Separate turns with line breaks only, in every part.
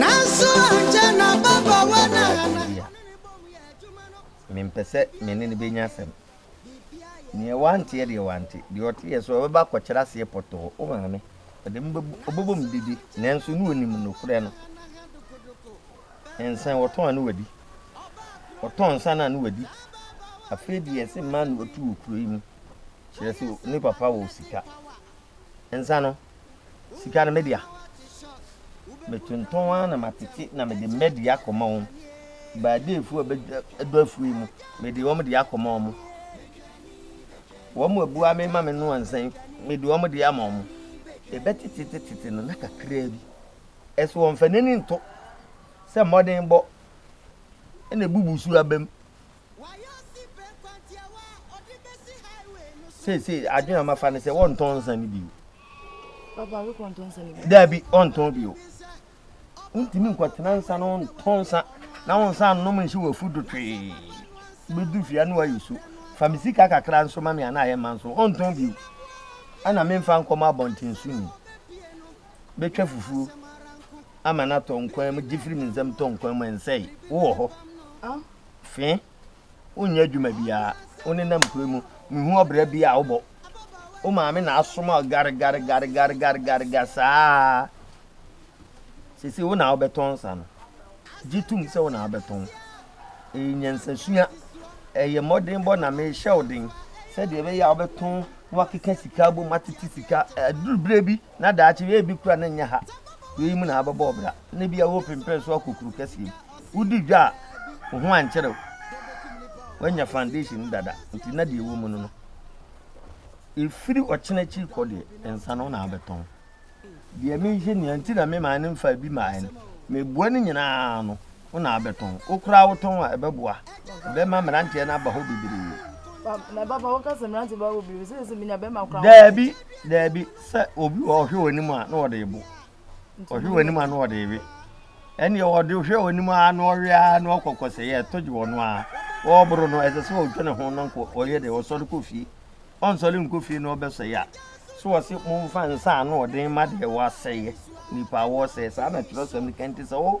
Nanso ankyɛ na ababaawa no a na ɔne no bɔ mu yɛ adwuma
no. Mempɛ sɛ me ne no bɛnya asɛm. Deɛ wante yɛ deɛ wante, deɛ ɔte yɛ so ɔbɛba akɔkyerɛ aseɛ pɔtɔɔ. Wo maame, ɔde me bɛbu, ɔbɛbɔ me dede, nanso na ɔnim nokorɛ no. Nsa ɔtɔn a na wadi, ɔtɔn nsa no a na wadi. Afei deɛ ɛse mmaa na wɔtu wɔ kuro yi mu, kyerɛ sɛ ne papa wɔ sika. Nsa no, sika no, me dea. Metontɔn ara na matete na mede mɛde akɔma wɔn. Baadeefoɔ a bɛdɔ afuo yi mu, mede wɔn de akɔma wɔn. Wɔn abua me ma me noa nsa yi, mede wɔn de ama wɔn. Ɛbɛtetetetete no na kakraa bi. Ɛso wɔmfa n'ani nto sɛ mmɔdenbɔ na ebubu so abam. Wayɛ ɔsi pɛ nkwantiawa a ɔde besi highway no so. Seesei adwene a mafa ne sɛ wɔntɔn nsa no bio. Papa,
wekɔ ntɔn nsa no bio? Daabi, ɔntɔn bio.
Wontumi nkɔtena nsa no ntɔn nsa na wo nsa nnom nhyɛ w'afu do twee. Wobɛdu fie a na woayɛ su. Fa me sika kakra nso ma me a na ayɛ ma nso. Ɔntɔn bio. Ana memfa nkɔma abɔnten so ni? Bɛtwa fufuo ama no atɔ nkwan mu, gye firi me nsam tɔ nkwan mu, ɛnsɛe. Wowɔ hɔ. Fe, wonyɛ adwuma biara. Wonenam kuro yi mu. Mehu ɔbra bi a wobɔ. Wo maame na asoma wo garigarigarigarigarigariga saa. Sese wo na wobɛtɔn nsa no. Gye tom sɛ wo na wobɛtɔn. Ɛyɛ nyansasua. Ɛyɛ mmɔdenbɔ na mehyɛ wo den sɛdeɛ ɛbɛyɛ a wobɛtɔn na wakeka sika abom atete sika. Aduru berɛ bi na daakye wei ebi kura no nyɛ ha. Wei mu na abɛbɔ ɔbra, na ebi a wɔrepempɛn so akɔ kuru kɛseɛ mu. Wodi dwa a, wo ho ankyerɛ wo. Woanya foundation dada, nti na deɛ ɛwɔ mu no no. Ɛfiri ɔkyena akyiri kɔ deɛ, nsa no na abɛtɔn. Deɛ mehwɛ nea nti na me maa no mfa ebi maa no, meboa no nyinaa no, Wo na abɛtɔn. Wo koraa wo tɔn a ɛbɛboa. Bɛma mmeranteɛ no aba hɔ bebree. Pa, na papa wo ka sɛ mmeranteɛ
bɛba hɔ bebree, sɛ sɛ menya bɛma koraa. Daabi, daabi,
sɛ obi wɔ ɔhwɛ wɔ anim a na ɔde ebo. Ɔhwɛ wɔ anim a na ɔde ewe. Ɛnneɛ ɔde hwɛ wɔ anim a na ɔwe a na ɔkɔ kɔsɛ yɛ ɛtɔ gye wɔ no a. Ɔreboro no ɛsɛ sɛ ɔtwa ne ho na nko ɔyɛ dɛ ɔsɔre kɔ fie. Ɔnsɔre nkɔ fie na ɔbɛsɛ yɛ a. So wɔse momfa nsa a ano ɔden ma deɛ wɔasɛeɛ, nnipa a wɔresɛe, saa na twerɛsɛm no ka nti sɛ wo.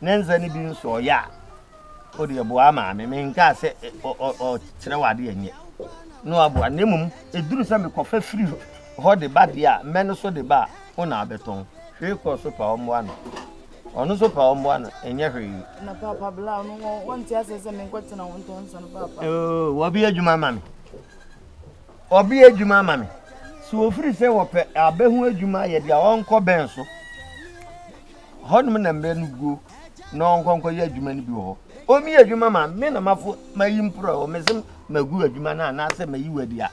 ne nsa no bi nso ɔyɛ a ɔde ɛboa maame menkaa sɛ ɔkyerɛ wɔ adeɛ nyɛ na waboa na mmom ɛduru sɛ mekɔfa firi hɔ de ba deɛ a mmɛ no so de ba a wo na abɛtɔn hwee kɔɔ so pa ɔmmoa no ɔno so pa ɔmmoa no ɛnyɛ hwee na papa bla no
wɔnte asɛ sɛ menkɔtena
wo ntɔn sɛ no papa wɔbi adwuma ma me ɔbi adwuma ma me sɛ wɔfiri sɛ wɔpɛ abɛho adwuma yɛ deɛ ɔnkɔ bɛn so Hɔnom na mbrɛ no guo na ɔnkɔ nkɔyɛ adwuma no bi wɔ hɔ. Omi adwuma ma me na mafo mayi mporɔ wɔ me se magu adwuma no anaasɛ mayi wadi a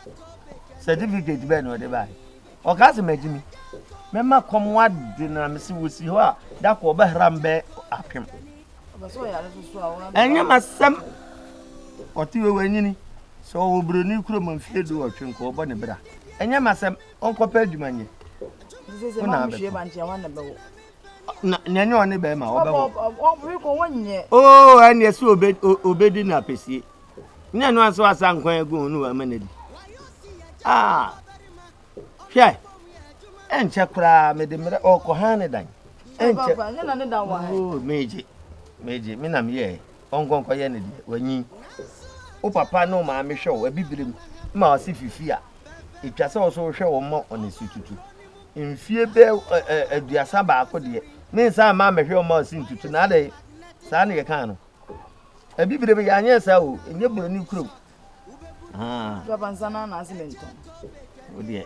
certificate bɛn na ɔde bae. Ɔkaa sɛ magyimi. Mɛma kɔm wade na mese wɔsi hɔ a da kɔ ɔbɛhra mbɛ apem.
Ɛnyɛ masɛm
ɔte wɔ wanyini sɛ ɔwɔ buroni kurom mfie du ɔtwe nkɔ ɔbɔ ne bra. Ɛnyɛ masɛm. ɔnkɔpɛ
adwuma nyɛ wo na abɛtɔ na
nea ne ɔne bɛrima wɔbɛwɔ
oo ɛne ɛsɛ
obɛdi no apɛsie ne ɛno anso asa nkwan agu ho ne wama no adi ah hwɛ ɛnkyɛ koraa mede mmerɛ ɔkɔ ha ne dan ɛnkyɛ
oo megye
megye me na meyɛɛ ɔnkɔnkɔyɛ ne deɛ wanyin wo papa ne wo maame hwɛ wo abibire mu ma ɔse fifi a etwa sɛ ɔso hwɛ wɔn ma wɔn asi tutu. Mfie bɛ ɛ ɛ aduasa baako deɛ ne nsa mma mmɛhwɛ wɔn ma wɔsi ntutu na adɛ saa na yɛkaa no. Abibire bɛ yɛanyɛ saa o, ɛnyɛ buroni kurom. Papa nsa no
anaase mentɔn. Wo deɛ.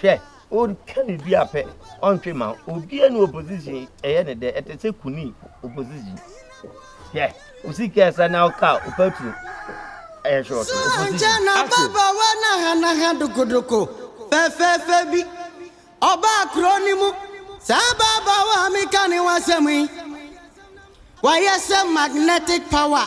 Hwɛ, ɔretwa ne dua pɛ, ɔntwe mma obiara ne opposition ɛyɛ ne dɛ, ɛte sɛ kuni opposition. Hwɛ, osika ɛsa na ɔka opaturo ɛyɛ short opposition. Aso. Babawa
nahanaha dokodoko fɛfɛɛfɛ bi ɔbaa kuro no mu. Saa babawa a meka ne ho asɛm yi, wayɛ sɛ magnetic power.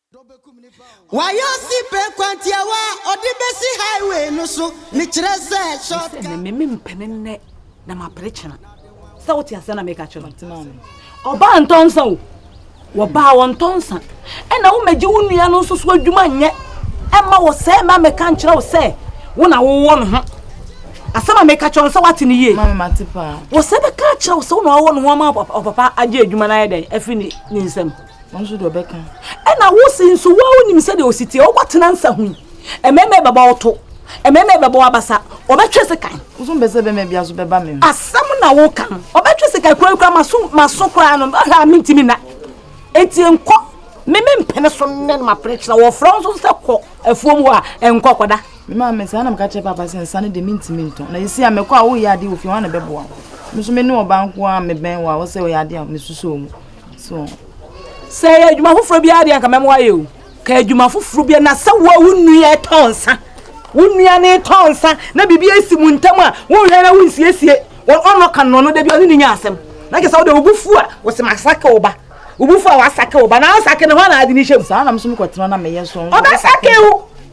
Wayɛ ɔsi pɛ kwantiawa a ɔde bɛsi highway no so, mekyerɛ sɛ short cut. Mese me mpene nnɛ
na mapere kyena. Sɛ wote asɛm na meka kyerɛ no. Ɔbaa ntɔ nsa o. Wɔbaa wɔntɔ nsa. Ɛna womɛgye wo nua no nso so adwuma nyɛ. Ɛma wɔ sɛ ɛma meka nkyerɛ wo sɛ wo na wowɔ no ho. Asɛm a meka kyerɛ no sɛ wate no yie. Wɔ
sɛ bɛka akyerɛ
wo sɛ wo na wowɔ no ho ama ɔpapa agye adwuma no ayɛ dɛn afiri ne nsam. Wɔn nso deɛ ɔbɛka.
Ɛna wosi nso
wɔn wonim sɛdeɛ osi teɛ ɔkɔ tena nsa ho yi. Mmarima ɛbɛbɔ ɔto. Mmarima ɛbɛbɔ abasa. Ɔbɛtwe sekan. Woso mbɛ sɛ bɛma bi aso
bɛba me ho. Asɛm na woka
no. Ɔbɛtwe sekan kura kura maso maso kura no. Ɔhwɛ a mentimi na. Eti nkɔ. Me me mpene so ne no mapene kyerɛ wɔfrɛ nso sɛ kɔ afuom hɔ a nkɔ kɔda. Me maa me saa na meka
kyerɛ papa sɛ nsa no de mentimi ntɔ. Na esi a mekɔ a woyɛ adeɛ wɔ fie hɔ a na bɛboa wo. Me nso me ne ɔbaa nko a mebɛn wɔ a wɔsɛ ɔyɛ adeɛ a mesusoo mu. So sɛ
ɛyɛ adwuma foforɔ biara deɛ nka mɛmo ayɛ o ka adwuma foforɔ biara na sɛ wo a wo nnua ɛtɔ nsa wo nnua ne tɔ nsa na biribi asi mu ntam a wonhwɛ na wonsiesie wɔn ɔnɔ ka nnɔ no da bi ɔne ne nya asɛm na kyɛ sɛ wode wobufu a wɔsɛ masake wo ba wobufu a wasake wo ba na asake ne hɔ na ade ne hyɛm saa nam so mekɔtena na
meyɛ so ɔbɛsake wo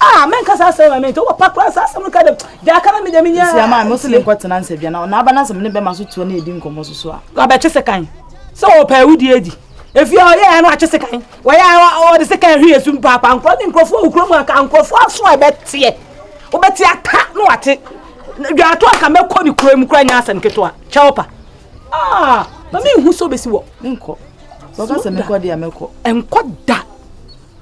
Ah, men kasa asem ma mente wo pa kra sa asem no ka dem. De aka na me de me nya. Sia ma mo se ne nkɔ
tena nsadwa na na aba na asem ne be ma so tuo na edi nkomo so so a. Wa be twese kan.
Se wo pa ewu di edi. Efi o ye no atwese kan. Wo ye o de se kan hwe esu mpa pa nkro ne nkrofo wo krom aka nkrofo aso a be tie. Wo be tie aka no wate. Dwa ato aka me kɔ ne krom kra nya asem ketewa. Kya wo pa. Ah, ma me hu so be si wo. Nkɔ. Wo
kasa me kɔ de a me kɔ. Nkɔ da.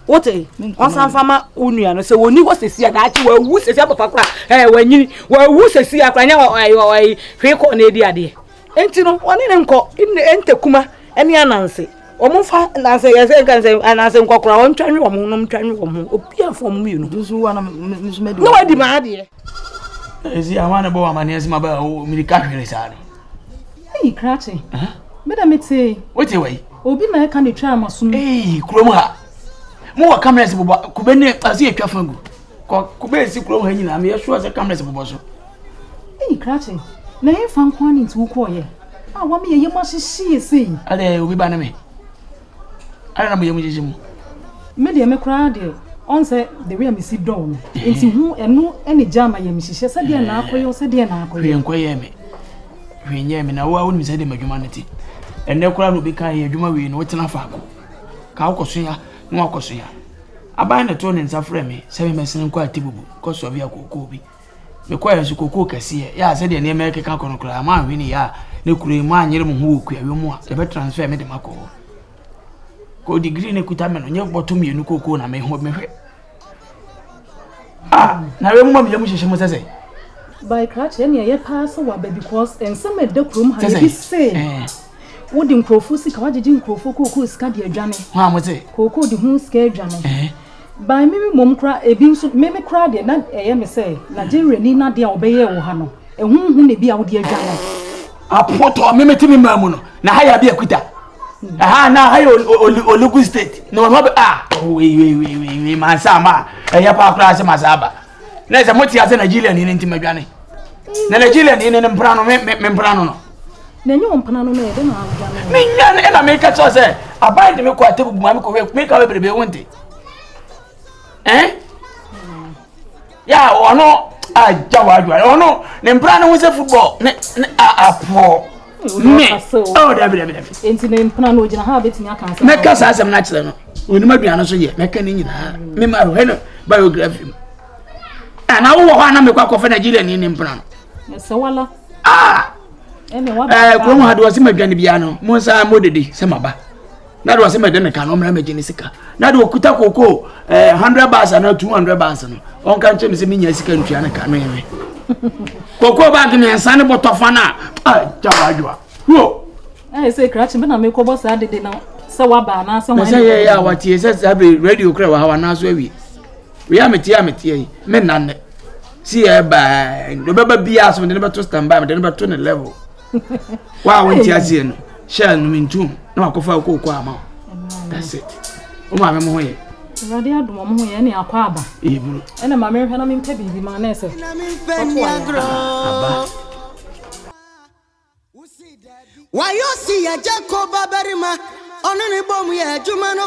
wote ɔsan fa ma wo nua no sɛ wɔni hɔ sɛsi a daakye wawu sɛsi apapa kora ɛɛ wanyini wawu sɛsi a kora nyɛ ɔyi hwee kɔ na ɛdi adeɛ nti no ɔne ne nkɔ ɛntɛ kuma ɛne ananse wɔn fa nanse yɛ sɛ nka sɛ ananse nkɔkora wɔn ntwa nwe wɔn nom ntwa nwe wɔn obi afɔ wɔn mmienu na
wadi maa adeɛ
Ɛsi
ama ne bɔ wa mane ɛsi ma bɛ o miri ka hwere saa no. Eyi krakye.
Me da me te. Wo te wai. Obi
na ɛka ne twa
ama sum. Eyi kurom ha.
Mo wɔ cameras bobɔ kube ne ɛsi etwa fa gu. Kɔ kube esi kurom ha nyina me yɛso ase cameras bobɔ so. Eyi krakye.
Na yɛn fa nko ani nti wo kɔ yɛ. A wa me yɛ yɛ mo ahyehye yɛ sei. Ade obi ba ne me.
Adɛn na moyɛ mo gyigye
mu?
Me deɛ me koraa
deɛ
ɔnsɛ
the way a mesi dɔɔ no nti ho ɛno ɛne gya ama yɛ me hyehyɛ sɛ deɛ na akɔyɛ sɛ deɛ na akɔyɛ hwee nkɔyɛ me
hwee nyɛ me na wo a wonim sɛ deɛ m'adwuma no te ɛnɛ koraa na obi ka yɛ adwuma wei no wotena faako ka wokɔsoa na wakɔsoa aban na ɛtoo ne nsa frɛ me sɛ memmɛsene nkɔ atibubu kɔsoa bi akɔkɔɔ bi Mekɔe nso kokoo kɛseɛ yɛ a sɛdeɛ nneɛma rekeka kɔ no koraa moanhwɛ ne yɛ a ne kuro yi moanyere mo ho wɔ kuayɔ mu a yɛbɛ transfer me de makɔ hɔ kɔ degree ne kuta me no nyɛ bɔtɔ mmienu kokoo na mehɔ mehwɛ ah na wei mu ma meyɛ mu hyehyɛ mo sɛ sɛ by
krakye ɛne ɛyɛ paa sɛ waba because nsɛm ɛda kurom ha yɛbi se wode nkurɔfoɔ sika wagyegye nkurɔfoɔ kookoo sika de adwane kookoo
de ho sika
adwane eh? by mimi mmom kora ebi nso mimi kora deɛ na ɛyɛ me sɛ nigeria ni na deɛ a wɔbɛyɛ wɔ ha no ɛho hu na ebi a wode adwane apotɔ
mimi ti mi maa mu no na ha yɛ abi akuta ɛha na ha yɛ olugu state na wɔn ho bɛ a ah, wewewewe mansa ma ɛyɛ paa koraa sɛ masa aba. na ɛsɛ mo te ase nigeria ni ne nti madwane na nigeria ni ne ne mpena no me me mpena no no na ɛnyɛ ɔmpena
no no yɛde na adwane menya ne ɛna meka
kyerɛ sɛ aban de me kɔ atebu buma me kɔhwɛ meka wɛ bebrebe wo nte ɛn ya ɔno agya wɔ adwane ɔno ne mpena no ho sɛ football ne ne apoɔ me oh dabi dabi dabi. nti ne mpena
no ogyina ha a betumi aka asɛm. mɛka saa asɛm no akyerɛ
no onim aduane no so yɛ mɛka ne nyinaa me ma hwɛ no biography mu ana wowɔ hɔ ana mekɔ akɔfɛ nigeria ni ne mpena no. ɛsɛ
wala. aa ah! ɛɛ eh, kurom ha de wɔsi ma
dwane biara no mo nsa mo dede sɛ ma ba. na de ɔsɛ mɛde ne ka no ɔmmra mɛgye ne sika na de ɔkuta kokoo eh, 100 bars anaa 200 bars no ɔnka nkyɛ me sɛ menya sika ntua ne ka no ɛwe kokoo baage mmiɛnsa ne bɔtɔfa no a gya waadwoa wo ɛyɛ sɛ krakye
bɛ na mekɔbɔ saa dede no sɛ waba anaasɛ wɔn sɛ yɛyɛ a watie sɛ
saa bere radio kora wɔ ha wanaaso awie wei a metie a metie yi menna nnɛ si yɛ baa ɔbɛba biaa so mede no bɛto standby mede no bɛto ne level Wa a wonte aseɛ no hyɛ anom ntom na wakɔfa kooko ama wo. That's it. Wo maame mo ho yɛ. Awurade adom ɔmo
ho yɛ ne akɔ aba. Ɛyɛ buru. Ɛna maame
nhwɛ na
mempɛ biribi ma na ɛsɛ. Ɔto
ayɛ. Ah, aba. Wayo si ya Jacob abarima. Ɔno ne bom yɛ adwuma no.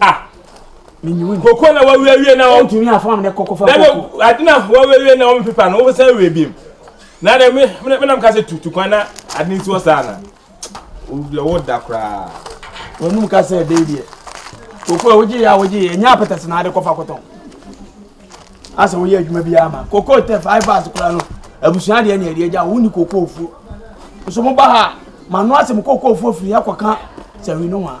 Ah. Menyuwi. Koko na
wawiawie na wɔn. Ntumi afam ne koko
fa koko. Dɛbɛ ade na
wawiawie na wɔn pepa no wɔsan awie biem. Na dɛ me me nam kasa tutu kwan na ade nti wɔ saa na. Owura wo da koraa. Wɔn num kasa
ɛdɛ deɛ. Koko a wogye yɛ a wogye yɛ nya apɛtɛs na ade kɔfa kɔtɔn. Asa woyɛ adwuma bi ama. Koko tɛ five bars koraa no. Abusua deɛ ne ɛdeɛ gya wo ni koko ofuo. Nso mo ba ha ma no asɛm koko ofuo firi akɔka sɛ wi no wa.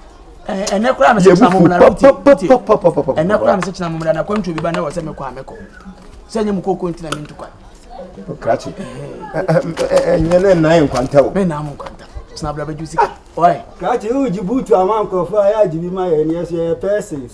ɛnɛ
koraa mese kyena momra ɛnɛ koraa mese kyena momra na kwantuo bi ba na wɔ sɛ mekɔ a mɛkɔ sɛ nyɛ mu kɔkɔ nti na mentu kwan
krakye ɛnyɛ ne nnan nkwanta o menam nkwanta kyena
bra bɛgye sika ɔe krakye wogye
buutu ama nkurɔfoɔ a yɛ agye bi ma yɛ neɛ so yɛyɛ persons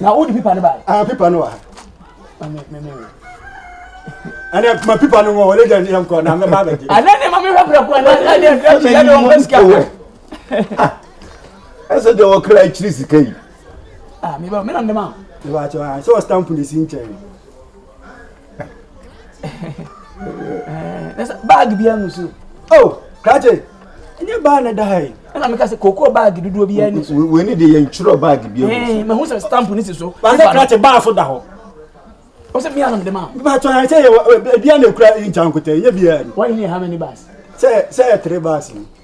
na wode pipa no bae ah pipa no wɔ ha
ɛnɛ ma pipa no wɔ ɔlɛ gya ne yɛnkɔ na mɛba abɛgye ɛnɛ ne ma mehwɛ prɛko
ɛnɛ ɛnɛ ɛnɛ ɛnɛ ɔmpɛ sika wɔ
ɛsɛ deɛ wɔkra akyiri sika yi ah meba
menam dɛm a meba kyɛ sɛ wɔ
stamp ne si nkyɛn
baagi bi anu so. o krakye
ɛnyɛ baa na ɛda ha yi. ɛna meka sɛ koko
baagi dodoɔ bi ani so. wei ni de yɛn twerɛ
baagi bi anu so. mahu sɛ stamp
ni si so. baasi krakye baa so
da hɔ. o sɛ
mi anam de ma. baa tɔ yɛn sɛ yɛ
bia na ekura yi nkya nkotɛ yɛ bia ni. wɔn ni yɛ ha mɛ ni baasi.
sɛ sɛ yɛ tere
baasi ni.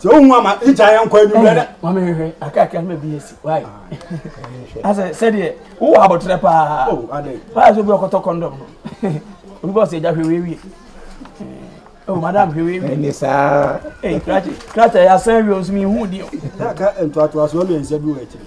sɛ wohu ama tikya yɛ nkɔ anwummerɛ dɛ mame hwɛ akakra
no baabi asi wae asɛ sɛdeɛ wowɔ abɔterɛ paa paa sɛ
obi ɔkɔtɔ kɔndɔm
no obi bɔ sɛ agya hwɛ wiewie Oh, madam, hwɛ wei wi. Ne saa.
Ee, krakye,
krakye yɛ asan wi o, nso mi hu di o. N'aka ntoatoasoɔ
mmiɛnsa bi wɔ akyiri.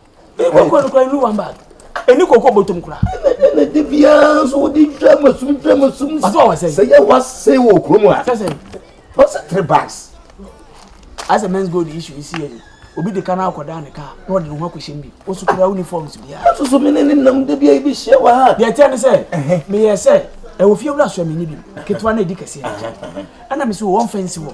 kɔkɔ nokora ɛnu one bag ɛni kɔkɔ bɔtɔm kora ɛna de biara
nso wode dwa masum dwa masum sɛ
yɛ wasɛe wɔ
kurom a ɔsɛ
three
bags
asɛ men's gold issue yi si yɛ ni obi de ka no akɔda ne ka na ɔde ne ho akɔhyɛ mu bi ɔso kura uniforms biara soso me ne ne nam
da bia yɛbi hyia wɔ ha deɛ ɛteɛ ne sɛ
meyɛ sɛ ɛwɔ fie wura soa menni bi ketewa no ɛdi kɛseɛ ɛna me sɛ wɔmfa nsi wɔ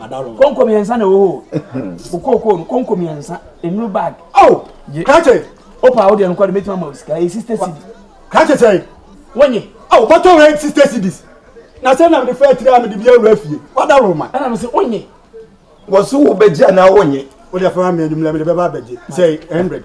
Madalo. Konko mmiɛnsa na ɛwɔ
hɔ o. Wo kookoo no konko mmiɛnsa. Nnuru bag. Oh! Ye. Krakye!
Opa wo deɛ no kɔ
de mɛtumi ama wo sika. Ɛyɛ sista CD. Krakye
sɛn? Wonye.
Oh! Bɔtɔ wei
sista CDs. Na sɛ na mede fa atiri a mede bi awura fie. Wadalo ma. Ɛna me se wonye.
Wɔso
wobɛgye anaa wonye. Wo deɛ fa ma me anwummerɛ
mede bɛba abɛgye. Sɛn? Hundred.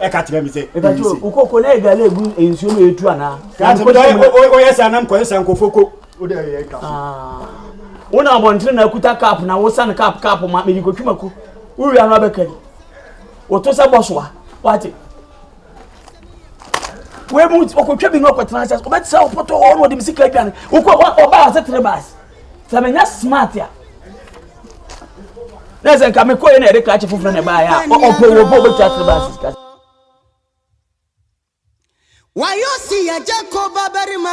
ɛka kyerɛ me sɛ
ɛbɛyi se. wokɔ kɔ na ɛgale egu nsuo mu etu anaa. kaate mo dɛ
oyɛ saa nam kɔyɛ saa nkɔfo ko. o de ɛyɛ ɛka so. wo
na abɔntene na akuta kap na wosan kap kap ma mede kɔtwi mako wowia no abɛkari woto sɛ bɔsoa wate wei mu ɔkɔtwa bi no ɔkɔtena sɛ wobɛte sɛ wopɔtɔ hɔ na ɔde me sika adwane wokɔ ɔbaa sɛ tere baase sɛ menya smart a na sɛ nka mekɔɛ na ɛde krakye foforɔ na ɛbaeɛ a ɔpɛ wɔ bɔ bɛtwa sere ba asika wayɛ ɔsi
yɛgye kɔ babarima